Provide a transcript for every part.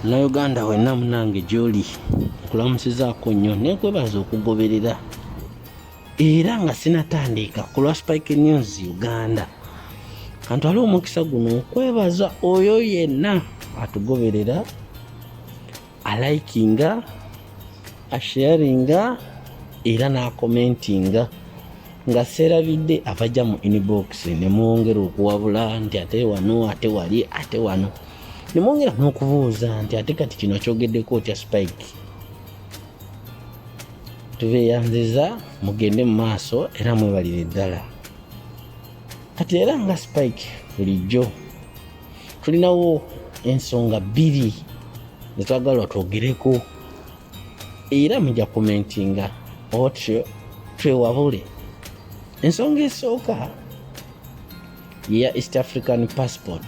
munauganda wenna munange gyoli nkulamusizaako nnyo nekwebaza okugoberera era nga sinatandiika ku lwa spike news uganda kantu ali omukisa guno okwebaza oyo yenna atugoberera alikinga asharinga era n'akomentinga nga seerabidde abajja mu inbox ne mwongera okuwabula nti ate wano ate wali ate wano ne mwongera n'okubuuza nti ate kati kino kyogeddeko otya spike tubeyanziza mugende mu maaso era mwebalire ddala kati era nga spike bulijjo tulinawo ensonga bbiri zetwagalwa twogereko era muja komentinga otyo twewabule ensonga esooka yeya east african passport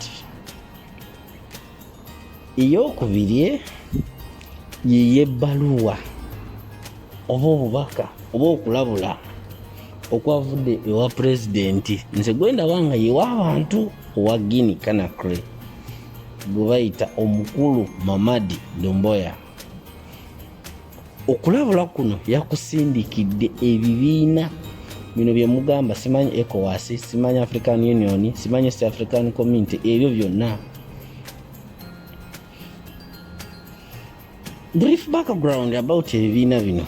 eyokubiri yiye ebbaluwa oba obubaka oba okulabula okwavudde ewa pulezidenti nze gwendaba nga yewa abantu owa guini kanakre gwe bayita omukulu mamadi domboya okulabula kuno yakusindikidde ebibiina bino byemugamba simanyi ecowas simanyi african union simanyi east african community ebyo byonna brief background about ebibiina bino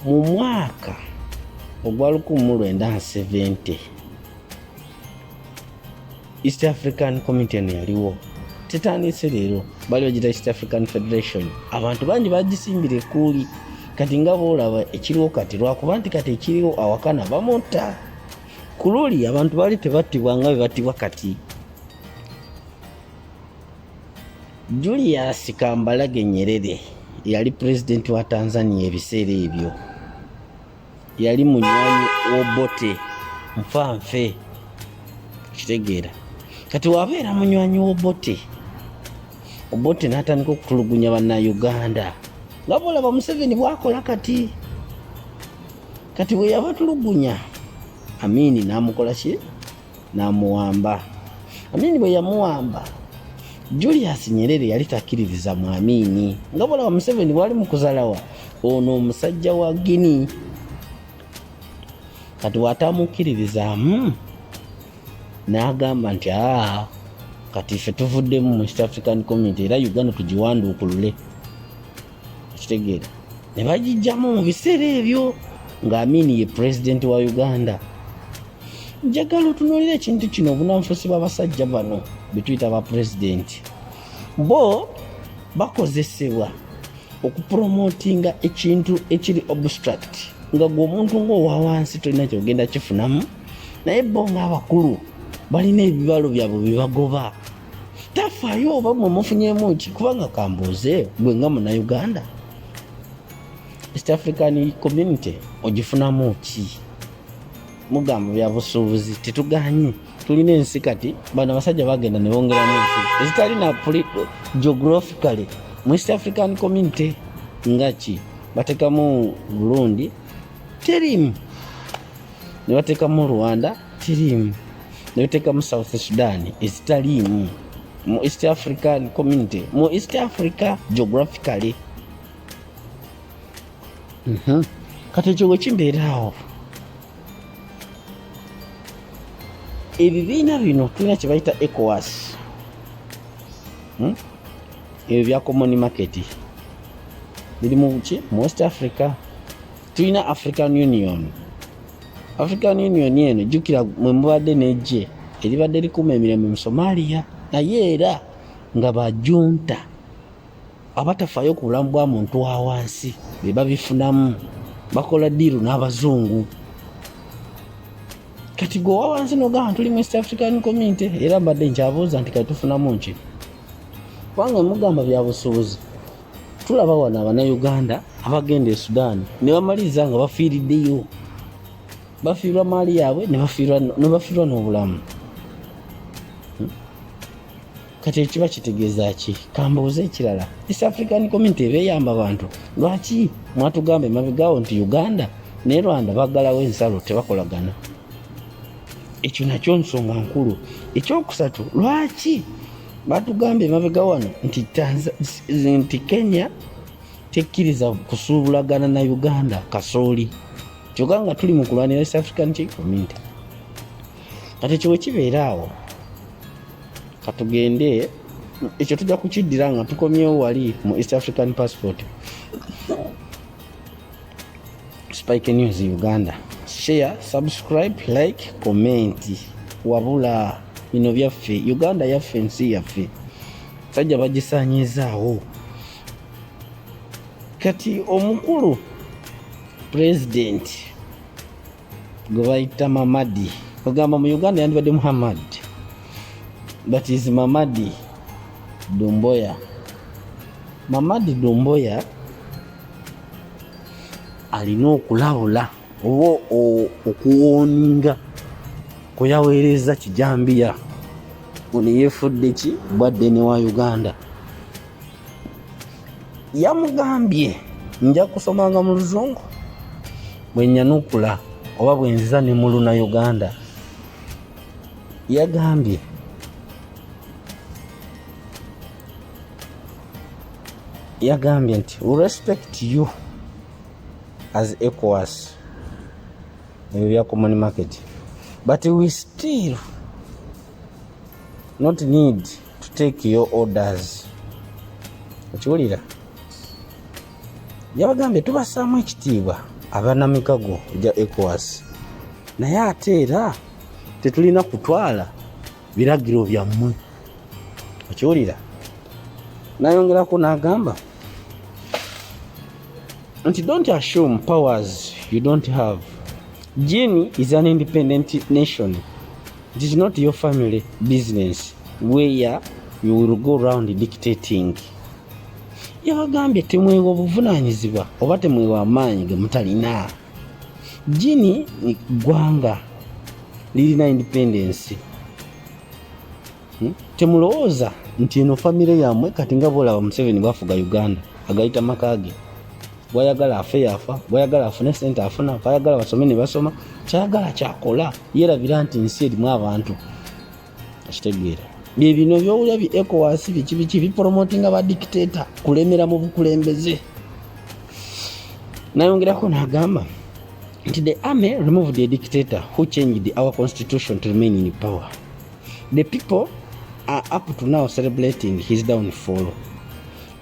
mu mwaka ogwa 1970 east african committee eno yaliwo tetandise leero bali bagita east african federation abantu bangi bagisimbira ekuuli kati nga boolaba ekiriwo kati lwakuba nti kati ekiriwo awakana bamutta ku luli abantu baali tebattibwa nga bwe battibwa kati julius kambalage nyerere yali pulezidenti wa tanzania ebiseera ebyo yali munywanyi wobote nfanfe kitegeera kati wabeera munywanyi wobote obote natandika okutulugunya bannauganda nga bolaba museveni bwakola kati kati bwe yabatulugunya amiini n'amukola ki n'amuwamba amiini bwe yamuwamba julius nyerere yali takkiririza mu amiini nga bulawa museveni bwali mu kuzalawa ono omusajja wa gini kati watamukkiririzaamu n'agamba nti aa kati ffe tuvuddemu mu east african community era uganda tugiwanduukulule okitegeera ne bagijjamu mu biseera ebyo nga amini ye president wa uganda njagala otunulira ekintu kino obunanfusi bwabasajja bano betuyita ba president bo bakozesebwa okupromotinga ekintu ekiri obstruct nga gwe omuntu ngaowawansi tolina kyogenda kifunamu naye bo ngaabakulu balina ebibalo byabwe byebagoba tafaayo oba mwe mufunyemu ki kubanga kambuuze gwe nga munauganda east african community ogifunamu ki mugamba byabusuubuzi tetuganye tulina ensi kati bano abasajja bagenda nebongeramu ensi ezitali na geographically mu east african community nga ki batekamu burundi terimu ne bateekamu rwanda tiriimu ne bateekamu south sudan ezitaliimu mu east african community mu east africa geographically mhm. kati ekyo wekimbeeraawo ebibiina bino tulina kyebayita ecowas hmm? ebyo bya common market biri muki mu west africa tulina african union african union eno jukira mwe mubadde nejje eribadde likuuma emirembe mu somalia naye era nga bajunta abatafaayo ku bulamu bwa muntu wa wansi be babifunamu bakola diiru n'abazungu kati gwe owa wansi nogamba tuli mu east african community era mbadde nkyabuuza nti kati tufunamu nki kubanga mugamba byabusuubuzi tulaba wano abanauganda abagenda e sudan nebamaliriza nga bafiiriddeyo bafiirwa maali yaabwe nebafiirwa n'obulamu hmm? kati ekiba kitegeeza ki kambuuza ekirala east african community ebeyamba bantu lwaki mwatugamba emabegawo nti uganda ne rwanda bagalawo ensalo tebakolagana ekyo nakyo nsonga nkulu ekyokusatu lwaki batugambye emabega wano nti nti kenya tekkiriza kusuubulagana na uganda kasooli kyoka nga tuli mu kulwanira east african ki community kati ekyo wekibeera awo katugende ekyo tujja kukiddira nga tukomyewo wali mu east african passport Spike News Uganda. Share, subscribe, like, comment. Wabula bino byaffe Uganda yaffe ensi yaffe sajja bagisanyiizaawo kati omukulu pulezidenti gwe bayita mamadi ogamba mu uganda yandibadde muhammad but is mamadi dumboya mamadi dumboya alina okulabula oba okuwoninga kweyaweereza kijambiya ono yefudde ki bwadde ne wa uganda yamugambye nja kusomanga mu luzungu bwenyanukula oba bwenziza ne mu luna uganda yagambye yagambye nti we respect you as ecowas ebyo bya common market but we still not need to take your orders okiwulira yabagambye tubasaamu ekitiibwa abanamikago gya ecowas naye ate era tetulina kutwala biragiro byammwe okiwulira nayongerako n'agamba nti don't assume powers you don't have jini is an independent nation it is not your family business where you will go round dictating yabagambye temwewa obuvunanyizibwa oba temwewa amaanyi gemutalina Gini gwanga lirina independence hmm? temulowooza nti eno famire yamwe kati nga bolaba museveni bwafuga uganda agayita makage bwayagala afe yafa bwayagala afune sente afuna bwayagala basome nebasoma kyayagala kyakola yerabira nti ensi erimu abantu akitegeera bye bino byowulira bi ecowas biki biki biporomotinga ba dictator kulemera mu bukulembeze nayongerako nagamba nti the army removed the dictator who changed our constitution to remain in power the people are up to now celebrating his downfall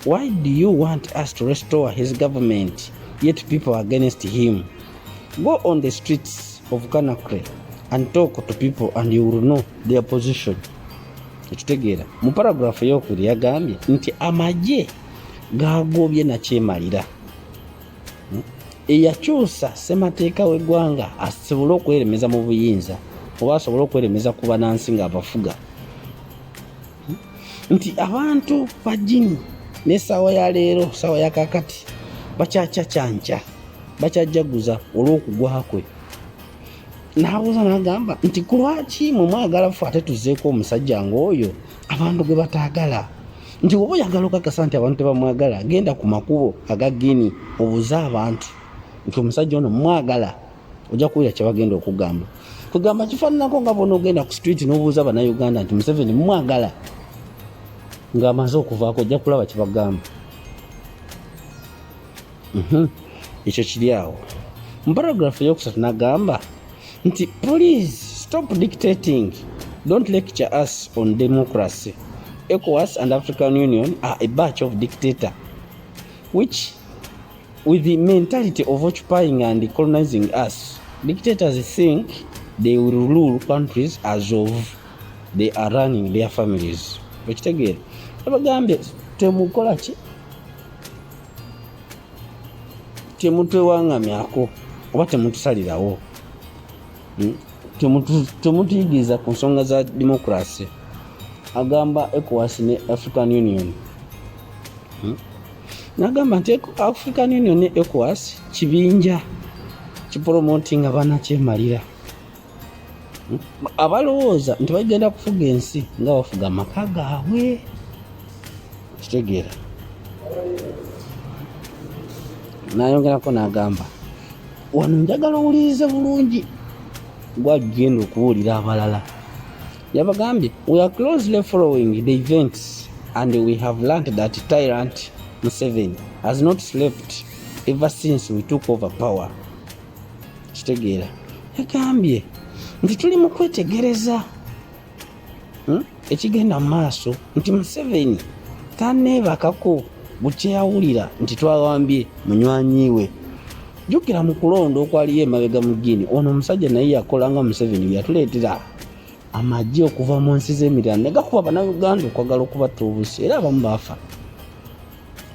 why do you want us to restore his government yet people are against him go on the streets of Kanakre and talk to people and you will know their position. Ekitegeera mu paragraph eyokubiri yagambye nti amagye gaagobye nakyemalira hmm? eyakyusa ssemateeka w'eggwanga asobole okweremeza mu buyinza oba asobole okweremeza ku banansi ng'abafuga nti abantu bajini n'essaawa ya leero ssaawa ya kakati bakyakyacanca bakyajjaguza olw'okugwa kwe n'abuuza n'agamba nti ku lwaki mwe mwagala fe ate tuzeeko omusajja ng'oyo abantu gwe bataagala nti oba oyagala okakasa nti abantu tebamwagala genda ku makubo aga gini obuze abantu nti omusajja ono mwagala ojja kuwulira kyebagenda okugamba kwegamba kifaananako nga bona ogenda ku street nobuuza banauganda nti museveni mumwagala ngaamaze okuvaako ojja kulaba kyebagamba mhm. ekyo kiri awo mu paragraph eyokusatu nagamba nti please stop dictating don't lecture us on democracy ecowas and african union are a batch of dictator which With the mentality of occupying and colonizing us, dictators think they will rule countries as of they are running their families. Okitegeera? Abagambye temukola ki? Temutwewangamyako oba temutusalirawo. hmm? temutuyigiriza ku nsonga za democracy agamba ecowas ne african union hmm? nagamba nti african union ne ecowas kibinja kipolomoti nga banakyemalira hmm? abalowooza nti bagenda kufuga ensi nga bafuga amaka gaabwe kitegeera nayongerako nagamba wano njagala owulirize bulungi gwagenda okuwulira abalala yabagambye we are closely following the events and we have learnt that tyrant museven has not slept ever since we took over power kitegeera yagambye nti tuli mu kwetegereza hmm? ekigenda mu maaso nti museveni taneebakako bukyeyawulira nti twawambye munywanyi we jjukira mu kulonda okwaliyo emabega mu giini ono omusajja naye yakola nga museveni yatuleetera amagye okuva mu nsi z'emirala ne gakuba banauganda okwagala okubatta obusi era abamu baafa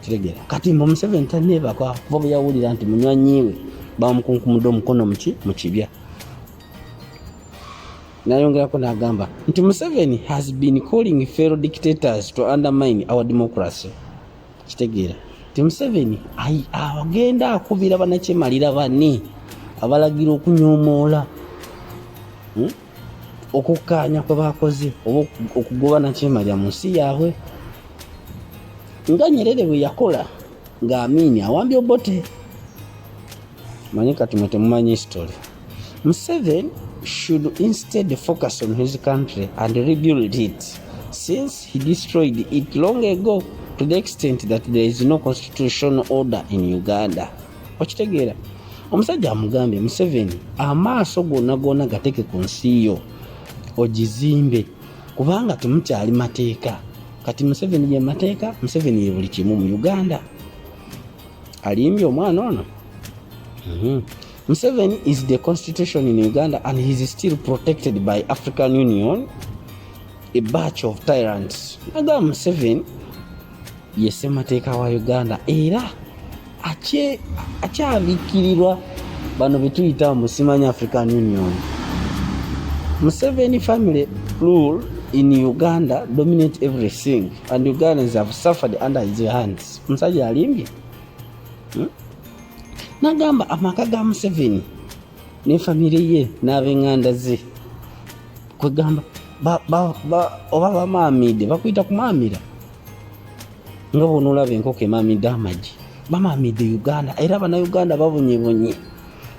kitegera kati mbu museveni taneebaka kuva bwe yawulira nti munywanyiwe bamukunkumudde omukono muki mu kibya Nayongerako n'agamba nti Museveni has been calling fellow dictators to undermine our democracy. Kitegeera nti Museveni agenda akubira banakyemalira bani abalagira okunyomoola hmm, okukkaanya kwe bakoze oba okugoba nakyemalira mu nsi yaabwe nga Nyerere bwe yakola ng'amiini awambye Obote manyi kati mwe temumanyi history museven should instead focus on his country and rebuild it since he destroyed it long ago to the extent that there is no constitutional order in uganda okitegeera omusajja amugambye museveni amaaso gona gona gateke ku nsi yo ogizimbe kubanga temukyali mateeka kati museveni ye mateeka museveni ye buli kimu mu uganda alimbye omwana ono mhm. Museveni is the constitution in Uganda and he is still protected by African Union a batch of tyrants naga Museveni ye ssemateeka wa Uganda era akyabikirirwa bano betuyita musimanya African Union Museveni family rule in Uganda dominate everything and Ugandans have suffered under his hands omusajja alimbye hmm? nagamba amaka ga museveni ne famire ye n'abenganda ze kwegamba oba bamaamide bakuyita kumaamira nga bwonaolaba enkoko emaamide amagi bamaamide uganda era abanauganda babonyebonye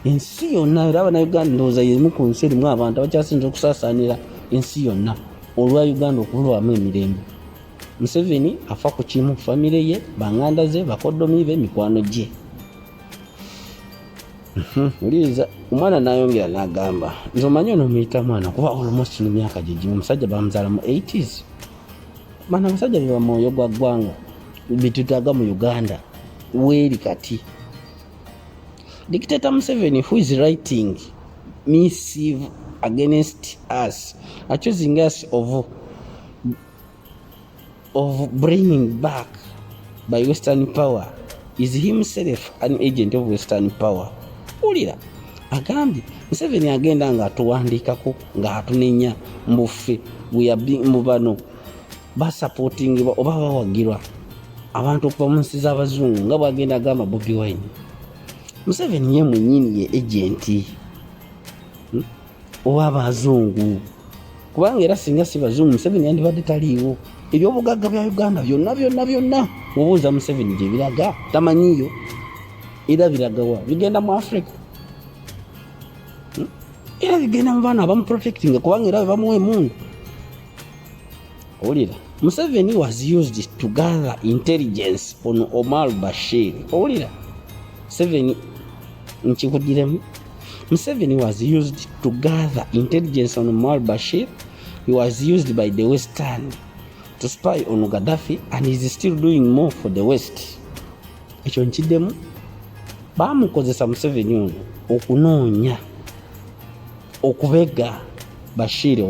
ensi yonna era abanauganda ndowooza yemu ku nsi erimu abantu abakyasinza okusaasaanira ensi yonna olwa uganda okubulwamu emirembe museveni afa ku kimu famire ye banganda ze bakodomi be mikwano gye mhm, wuliriza omwana nayongera nagamba nze omanyi ono omuyita mwana kuba olmost no myaka gyegimu omusajja bamuzala mu 80s bana abasajja beba mwoyo gwa ggwanga betutaga mu uganda weeri kati dictator museveni who is writing missive against us accusing us of of bringing back by western power is himself an agent of western power wulira agambye museveni agenda nga atuwandiikako nga atunenya mbufe mu bano basapotingibwa oba bawagirwa abantu okuva mu nsi z'abazungu nga bwagenda agamba bobi wine museveni ye mwenyini ye agenti hmm? oba abazungu kubanga era singa si bazungu museveni yandibadde taliiwo ebyobugagga bya uganda byonna byonna byonna mubuuza museveni gye biraga tamanyiyo era biragawa bigenda mu africa hmm? era bigenda mu baana abamuprotectinga kubanga era bebamuwa emundu owulira museveni was used to gather intelligence on omar bashir owulira museveni nkikudiremu Museveni was used to gather intelligence on Omar Bashir. He was used by the Western to spy on Gaddafi and is still doing more for the West. Ekyo nkiddemu baamukozesa Museveni ono okunoonya okubega Bashir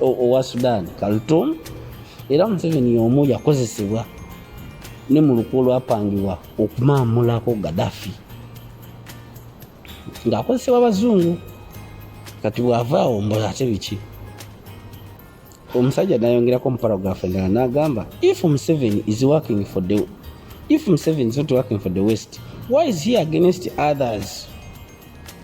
owa Sudan Khartoum era Museveni y'omu yakozesebwa ne mu lukwe olwapangibwa okumaamulako Gaddafi. ng'akozesebwa abazungu kati bw'ava awo mbola ate biki omusajja nayongerako mu paragraph endala nagamba if museveni is working for the if museveni is not working for the west why is he against others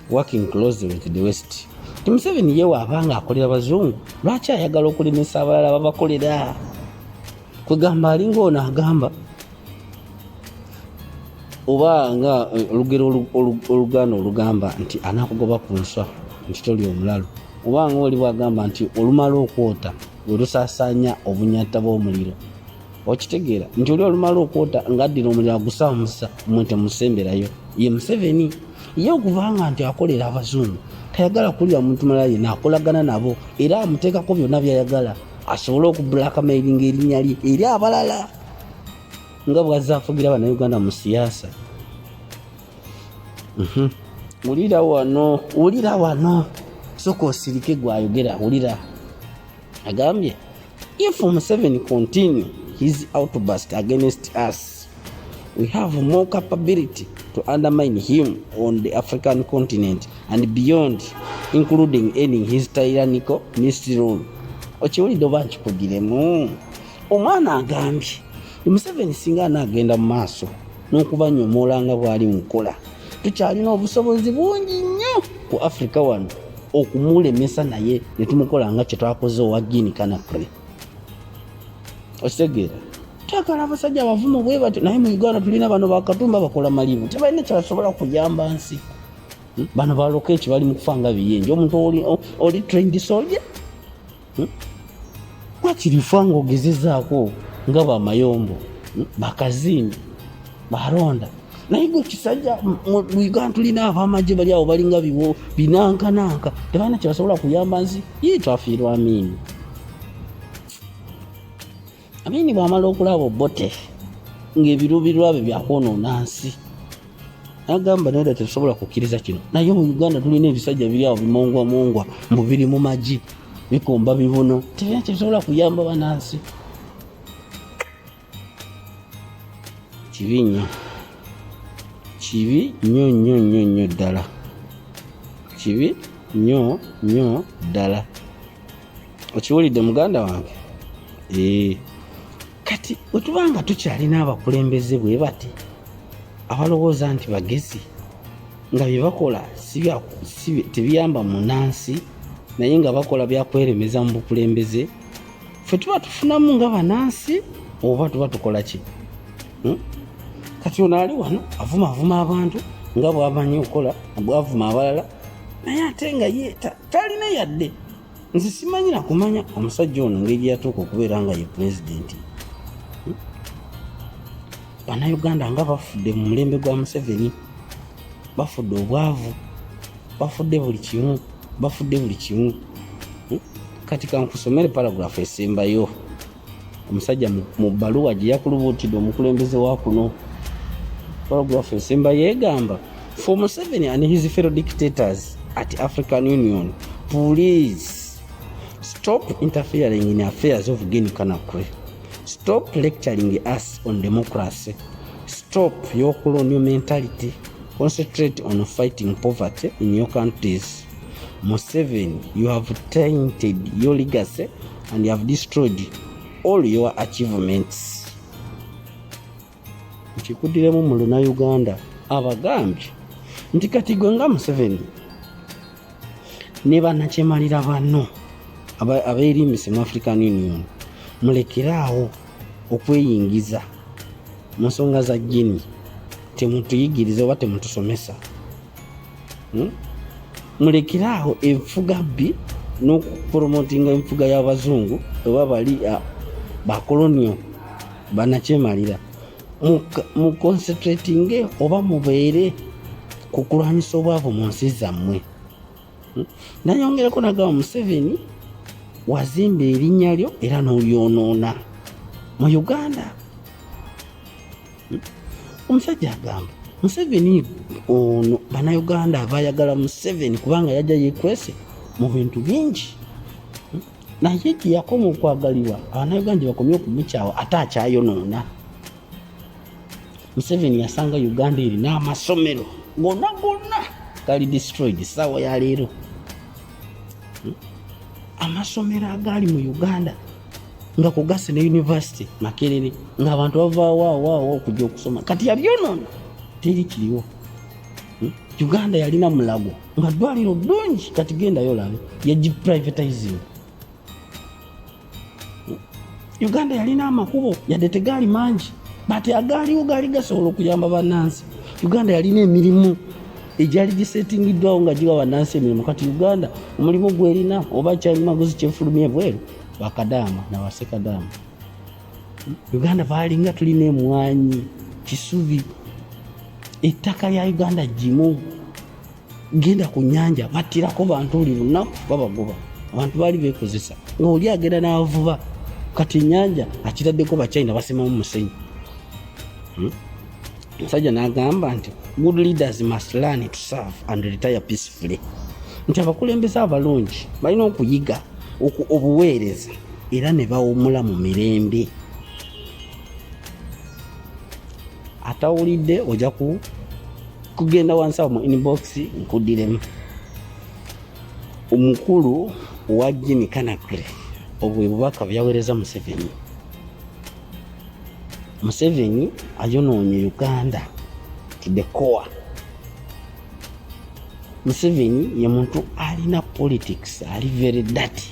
working closely with the west ti museveni yewe abanga akolera bazungu lwaki ayagala okulemesa abalala babakolera kwegamba alinga ono agamba oba nga eh, olugero oluganda olugamba nti anakugoba ku nswa nti toli omulalu oba nga oli bwagamba nti olumala okwota welusasanya obunyata bwomuliro okitegeera nti oli olumala okwota ngaaddira omuliro agusamusa mwe temusemberayo ye museveni ye okubanga nti akolera abazungu tayagala kulira muntu malala yena akolagana nabo era amuteekako byonna byayagala asobole okublakamairinga erinnya lye eri abalala nga bwazze afugira bannayuganda mu siyaasa mhm. wulira wano wulira wano soka osirike gwayogera wulira agambye if museveni continue his outburst against us we have more capability to undermine him on the african continent and beyond including ending his tyrannical mystery rule okiwulidde oba nkikugiremu omwana agambye museveni singa anaagenda mu maaso n'okubanyomoola nga bwali mukola tukyalina obusobozi bungi nnyo ku afirika wano okumulemesa naye ne tumukola nga kye twakoze owa gini kanakre okitegeera twagala abasajja abavumu bwe batyo naye mu uganda tulina bano bakatumba bakola malibu tebalina kyebasobola kuyamba nsi hmm? bano baloka eki bali mu kufa nga biyenje omuntu oli trained soldier hmm? wakiri fa ngaogezezaako nga bamayombo hmm? bakazimbi baronda naye gwe kisajja muigan tulina abamagye bali awo balinga biwo binankananka tebalina kyebasobola kuyamba nsi yii twafiirwa amiini amini bwamala okulaba obote ngaebiruubirwa bye byakwonoona nsi agamba naye dda tetusobola kukkiriza kino naye mu uganda tulina ebisajja biri awo bimongwamongwa mbu biri mu magi bikomba bibuno tebina tebisobola kuyamba banansi kibi nnyo kibi nnyo nnyo nnyo nnyo ddala kibi nnyo nnyo ddala okiwulidde muganda wange ee kati wetuba nga tukyalina abakulembeze bwe bati abalowooza nti bagezi nga bye bakola tebiyamba munansi naye nga bakola byakweremeza mu bukulembeze fe tuba tufunamu nga banansi oba tuba tukola ki hmm? kati ono ali wano avumavuma abantu nga bwamanyi okukola bwavuma abalala naye ate nga ye talina yadde nze simanyi nakumanya omusajja ono ngeri yatuuka okubeera nga ye pulezidenti hmm? banauganda nga bafudde mu mulembe gwa museveni bafudde obwavu bafudde buli kimu bafudde buli kimu hmm? kati kankusomere paragrafu esembayo omusajja mu bbaluwa gye yakulubuutidde omukulembeze wa kuno paragraph esemba yeegamba for museveni and his fellow dictators at african union please stop interfering in affairs of guinea conakry stop lecturing us on democracy stop your colonial mentality concentrate on fighting poverty in your countries museveni you have tainted your legacy and you have destroyed all your achievements nkikudiremu mu luna uganda abagambye nti kati gwe nga museveni ne banakyemalira banno abeerimbise mu african union mulekeraawo okweyingiza mu nsonga za jini temutuyigiriza oba temutusomesa hmm? mulekeraho enfuga bbi n'okupromotinga enfuga y'abazungu oba bali ah, bakolonio banakyemalira muconcentratinge oba mubeere ku kulwanyisa obwavu mu nsi zammwe hmm? nayongereko nagamba museveni wazimba erinnya lyo era n'olyonoona mu uganda omusajja agamba museveni ono banauganda abayagala museveni kubanga yajja yekwese mu bintu bingi naye gyeyakoma okwagalibwa abanauganda bakomye okumukyawa ate akyayonoona museveni yasanga uganda eri n'amasomero gona gonna gali destroyed saawa ya leero amasomero agaali mu uganda nga kugasi ne university makerere nga abantu bavawawaawo okuja okusoma kati yabyonona teri kiriwo hmm? uganda yalina mulago nga dwaliro dungi kati gendayo olabe yagiprivatizing hmm? uganda yalina amakubo yadde tegaali mangi bati agaaliwo gaali gasobola okuyamba banansi uganda yalina emirimu egyali gisetingiddwawo nga giwa banansi emirimu kati uganda omulimu gwerina oba kyalimaguzi kyefulumye bweru bakadaama na basekadaama uganda baalinga tulina emwanyi kisubi ettaka lya uganda gimu genda ku nyanja battirako bantu buli lunaku babagoba abantu baali bekozesa nga oli agenda n'avuba kati enyanja akitaddeko bachina basimamu musenyi hmm? musajja n'agamba nti good leaders must learn to serve and retire peacefully nti abakulembeze abalungi balina okuyiga obuweereza era ne bawumula mu mirembe atawulidde ojja kugenda wansi awo mu inbox nkudiremu omukulu owa jini kanakre obwe bubaka byaweereza museveni Museveni ayonoonye Uganda to the core. Museveni ye muntu alina politics ali very dirty,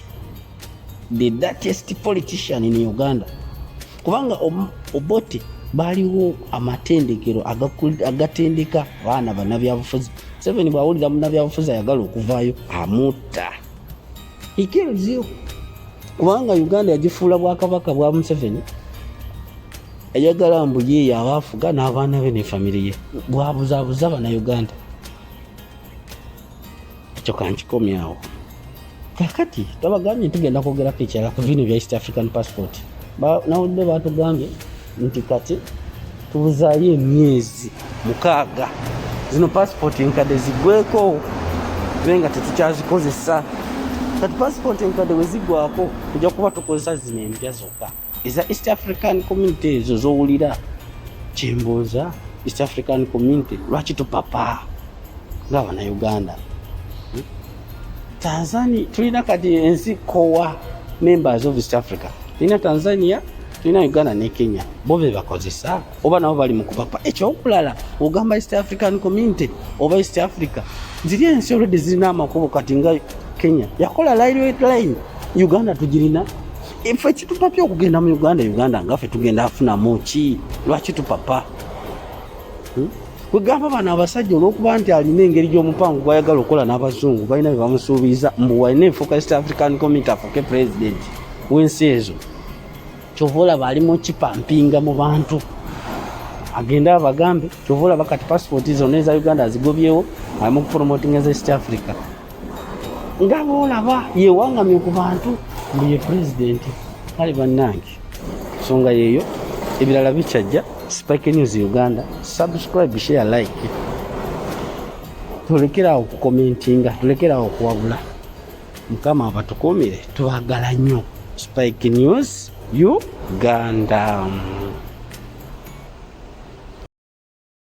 the dirtiest politician in Uganda kubanga Obote baaliwo amatendekero agatendeka abaana banabyabufuzi. Museveni bwawulira munabyabufuzi ayagala okuvaayo amutta. He kills you. Kubanga Uganda yagifuula bwakabaka bwa Museveni ayagala mbu ye yaba afuga n'abaana be ne famire ye bwabuzabuza bana Uganda ekyo kankikomyawo kakati tabagambye nti genda kwogerako ekirala ku bino bya East African passport nawulidde batugambye nti kati tubuzaayo emyezi mukaaga zino pasipooti enkadde zigweko tube nga tetukyazikozesa kati pasipooti enkadde bwe zigwako tujja kuba tukozesa zino empya zokka eza east african community ezo zowulira kyembuuza east african community lwaki tupapa ngaabanauganda hmm? tanzania tulina kati ensi kowa members of east africa tulina tanzania tulina uganda ne kenya bo bebakozesa oba nabo bali mukupapa ekyokulala ogamba east african community oba east africa ziri ensi olwedde zirina amakubo kati nga kenya yakola line uganda tugirina efe kitupapya okugenda mu uganda uganda ngafe tugenda afunamu ki lwaki tupapa hmm? kwegamba bano abasajja olwokuba nti alina engeri gyomupango gwayagala okukola n'abazungu balina bebamusuubiza mbu walina enfuuka east african community afuuke president wensi ezo kyova olaba ali mukipampinga mu bantu agende abagambe kyova olaba kati pasipooti zonna eza uganda azigobyewo ali mu kupromotinga eza east africa nga boolaba yewangamye ku bantu mbu ye pulezidenti kale bannange nsonga yeeyo ebirala bikyajja spike news uganda subscribe share like tulekerawo okukomentinga tulekerawo okuwabula mukama abatukumire twagala nnyo spike news uganda